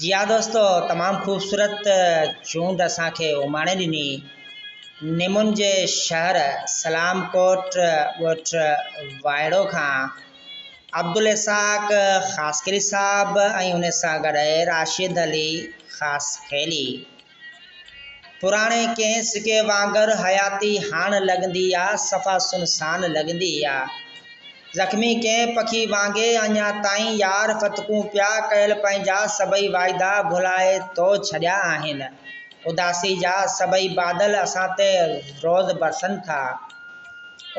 جي ها دوستو تمام خوبصورت چونڊ اسان کي اماڻي ڏني نمون جي شهر سلام ڪوٽ ڳوٺ وائڙو کان عبدالاسحاق خاصخيلي صاحب ۽ ان سان گڏ راشد علي خاصخيلي پراڻي ڪنهن سڪي وانگر حياتي هاڻ لڳندي آ، صفا سنسان لڳندي آ. زخمي ڪنهن پکي وانگي اڃا تائين يار فتڪون پيا، ڪيل پنهنجا سڀئي واعدا ڀلائي تو ڇڏيا آهن. اداسي جا سڀئي بادل اسان تي روز برسن ٿا.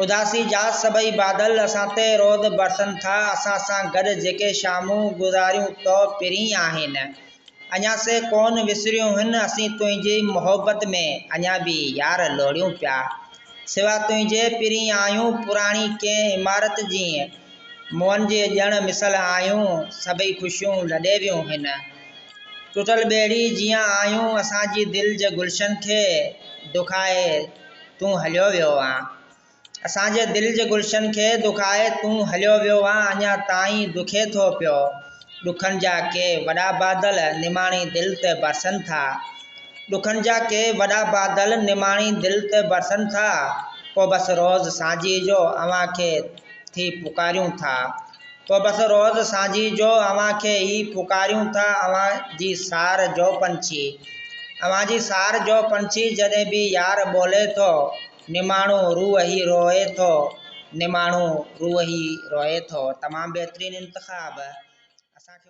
اداسي جا سڀئي بادل اسان تي روز برسن ٿا، اسان سان گڏ جيڪي شامون گذاريون تو پرين آهن. اڃا سي ڪونه وسريون هن اسين تنهنجي محبت ۾ اڃا به يار لوڙيون پيا سوا تنهنجي پرين آهيون پراڻي ڪنهن عمارت جيئن موئن جي ڄڻ مثل آهيون سڀئي خوشيون لڏي ويون هن ٽٽل ٻيڙي جيئن آهيون اسان جي دل جي گلشن کي دکائي تون هليو ويو آن. اسان جي دل جي گلشن کي دکائي تون هليو ويو آن اڃا تائين دکي ٿو پيو ڏکن جا ڪي وڏا بادل نماڻي دل تي برسن ٿا ڏکن جا ڪي وڏا بادل نماڻي دل تي برسن ٿا پوء بس روز سانجهي جو اوهان کي ٿي پڪاريون ٿا پوء بس روز سانجهي جو اوهان کي ئي پڪاريون ٿا اوهان جي سار جو پنڇي اوهان جي سار جو پنڇي جڏهن به يار ٻولي ٿو نماڻو روح هي روئي ٿو نماڻو روح هي روئي ٿو تمام بهترين انتخاب اسان کي